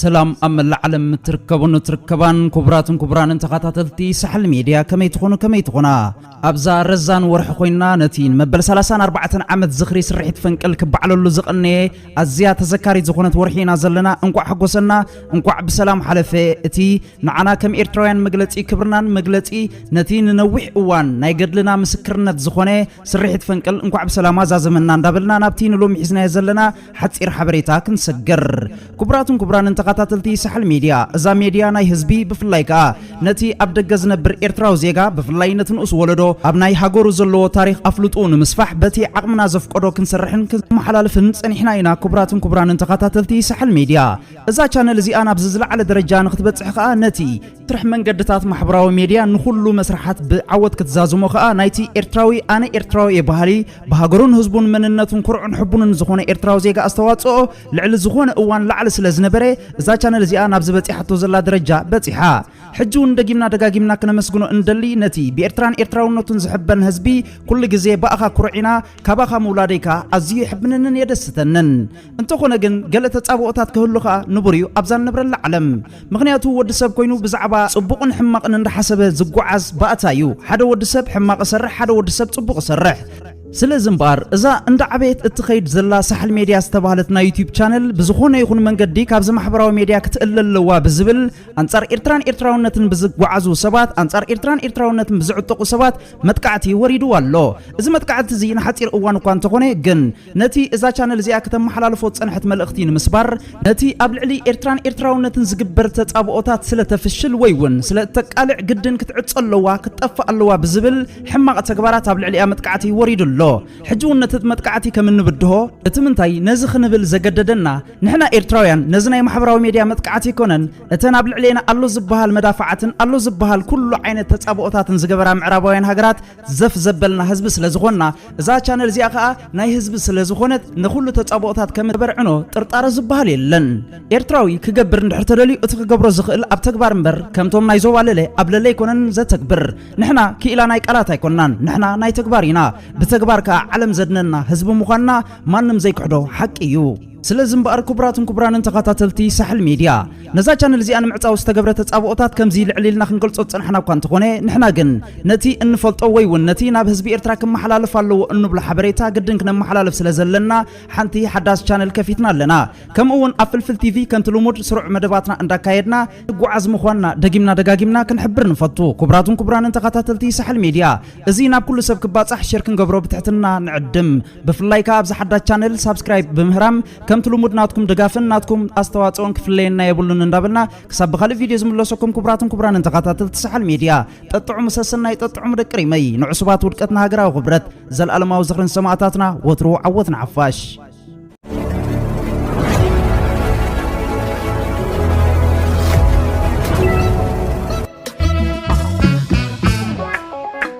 ሰላም ኣብ መላእ ዓለም እትርከቡን እትርከባን ክቡራትን ክቡራንን ተኸታተልቲ ሳሕል ሚድያ ከመይ ትኾኑ ከመይ ትኾና ኣብዛ ረዛን ወርሒ ኮይንና ነቲ ንመበል ሰላሳን ኣርባዕተን ዓመት ዝኽሪ ስርሒት ፈንቅል ክበዓለሉ ዝቐነየ ኣዝያ ተዘካሪት ዝኾነት ወርሒ ኢና ዘለና። እንቋዕ ሓጎሰና፣ እንቋዕ ብሰላም ሓለፈ። እቲ ንዓና ከም ኤርትራውያን መግለጺ ክብርናን መግለጺ ነቲ ንነዊሕ እዋን ናይ ገድልና ምስክርነት ዝኾነ ስርሒት ፈንቅል እንቋዕ ብሰላም ኣዛዘመና እንዳበልና ናብቲ ንሎሚ ሒዝናዮ ዘለና ሓጺር ሓበሬታ ክንሰገር ክቡራትን ክቡራንን ተኸታተልቲ ሳሕል ሜድያ እዛ ሜድያ ናይ ህዝቢ ብፍላይ ከኣ ነቲ ኣብ ደገ ዝነብር ኤርትራዊ ዜጋ ብፍላይ ነቲ ንኡስ ወለዶ ኣብ ናይ ሃገሩ ዘለዎ ታሪኽ ኣፍልጡ ንምስፋሕ በቲ ዓቕምና ዘፍቀዶ ክንሰርሕን ክንመሓላልፍን ጸኒሕና ኢና ክቡራትን ክቡራንን ተኸታተልቲ ሳሕል ሜድያ እዛ ቻነል እዚኣ ናብዚ ዝለዓለ ደረጃ ንክትበጽሕ ከኣ ነቲ ትርሕ መንገድታት ማሕበራዊ ሜድያ ንኩሉ መስርሓት ብዓወት ክትዛዝሞ ከኣ ናይቲ ኤርትራዊ ኣነ ኤርትራዊ እየ በሃሊ ብሃገሩን ህዝቡን መንነቱን ኩርዑን ሕቡንን ዝኾነ ኤርትራዊ ዜጋ ኣስተዋጽኦ ልዕሊ ዝኾነ እዋን ላዕሊ ስለ ዝነበረ እዛ ቻነል እዚኣ ናብዚ በጺሓቶ ዘላ ደረጃ በጺሓ ሕጂ ውን ደጊምና ደጋጊምና ክነመስግኖ እንደሊ ነቲ ብኤርትራን ኤርትራውነቱን ዝሕበን ህዝቢ ኩሉ ግዜ ብኣኻ ኩሩዕ ኢና ካባኻ ምውላደይ ከኣ ኣዝዩ የሕብነንን የደስተንን እንተኾነ ግን ገለ ተጻብኦታት ክህሉ ከኣ ንቡር እዩ ኣብዛ ንነብረላ ዓለም። ምኽንያቱ ወዲ ሰብ ኮይኑ ብዛዕባ ጽቡቕን ሕማቕን እንዳሓሰበ ዝጎዓዝ ባእታ እዩ። ሓደ ወዲ ሰብ ሕማቕ እሰርሕ ሓደ ወዲ ሰብ ጽቡቕ እሰርሕ። ስለዚ እምበኣር እዛ እንዳዓበየት እትኸይድ ዘላ ሳሕል ሜድያ ዝተባህለት ናይ ዩቱብ ቻነል ብዝኾነ ይኹን መንገዲ ካብዚ ማሕበራዊ ሜድያ ክትእለ ኣለዋ ብዝብል ኣንጻር ኤርትራን ኤርትራውነትን ብዝጓዓዙ ሰባት ኣንጻር ኤርትራን ኤርትራውነትን ብዝዕጠቑ ሰባት መጥቃዕቲ ወሪድዋ ኣሎ። እዚ መጥቃዕቲ እዚ ንሓጺር እዋን እኳ እንተኾነ ግን ነቲ እዛ ቻነል እዚኣ ክተመሓላልፎ ዝጸንሐት መልእኽቲ ንምስባር፣ ነቲ ኣብ ልዕሊ ኤርትራን ኤርትራውነትን ዝግበር ተጻብኦታት ስለ ተፍሽል ወይ ውን ስለ እተቃልዕ ግድን ክትዕጾ ኣለዋ ክትጠፍእ ኣለዋ ብዝብል ሕማቕ ተግባራት ኣብ ልዕሊኣ መጥቃዕቲ ወሪዱ ኣሎ። ሕጂ ውን ነቲ መጥቃዕቲ ከም እንብድሆ፣ እቲ ምንታይ ነዚ ክንብል ዘገደደና ንሕና ኤርትራውያን ነዚ ናይ ማሕበራዊ ሜድያ መጥቃዕቲ ኣይኮነን እተን ኣብ ልዕሌና ኣሎ ዝበሃል መዳፍዓትን ኣሎ ዝበሃል ኩሉ ዓይነት ተጻብኦታትን ዝገበራ ምዕራባውያን ሃገራት ዘፍ ዘበልና ህዝቢ ስለ ዝኾንና እዛ ቻነል እዚኣ ከኣ ናይ ህዝቢ ስለ ዝኾነት ንኹሉ ተጻብኦታት ከም ተበርዕኖ ጥርጣረ ዝበሃል የለን። ኤርትራዊ ክገብር እንድሕር ተደልዩ እቲ ክገብሮ ዝኽእል ኣብ ተግባር እምበር ከምቶም ናይ ዞባ ለለ ኣብ ለለ ኣይኮነን ዘተግብር። ንሕና ክኢላ ናይ ቃላት ኣይኮናን ንሕና ናይ ተግባር ኢና። ብተግባር ከኣ ዓለም ዘድነና ህዝቢ ምዃንና ማንም ዘይክሕዶ ሓቂ እዩ። ስለዚ እምበኣር ክቡራትን ክቡራንን ተኻታተልቲ ሳሕል ሜድያ ነዛ ቻነል እዚኣ ንምዕጻው ዝተገብረ ተጻብኦታት ከምዚ ልዕል ኢልና ክንገልጾ ዝጸናሕና እኳ እንተኾነ ንሕና ግን ነቲ እንፈልጦ ወይ እውን ነቲ ናብ ህዝቢ ኤርትራ ክመሓላለፍ ኣለዎ እንብሎ ሓበሬታ ግድን ክነመሓላልፍ ስለ ዘለና ሓንቲ ሓዳስ ቻነል ከፊትና ኣለና ከምኡ እውን ኣብ ፍልፍል ቲቪ ከምቲ ልሙድ ስሩዕ መደባትና እንዳካየድና ንጓዓዝ ምዃንና ደጊምና ደጋጊምና ክንሕብር ንፈቱ ክቡራትን ክቡራንን ተኻታተልቲ ሳሕል ሜድያ እዚ ናብ ኩሉ ሰብ ክባጻሕ ሼር ክንገብሮ ብትሕትና ንዕድም ብፍላይ ከዓ ኣብዚ ሓዳስ ቻነል ሳብስክራይብ ብምህራም ከምቲ ልሙድ ናትኩም ድጋፍን ናትኩም ኣስተዋፅኦን ክፍለየና የብሉን እንዳበልና ክሳብ ብካልእ ቪድዮ ዝምለሰኩም ክቡራትን ክቡራንን ተኸታተልቲ ሰሓል ሚድያ ጠጥዑሙ ሰሰናይ ጠጥዑሙ ደቂ ሪመይ ንዕሱባት ውድቀትና ሃገራዊ ክብረት ዘለኣለማዊ ዝኽርን ሰማእታትና ወትሩ ዓወት ንዓፋሽ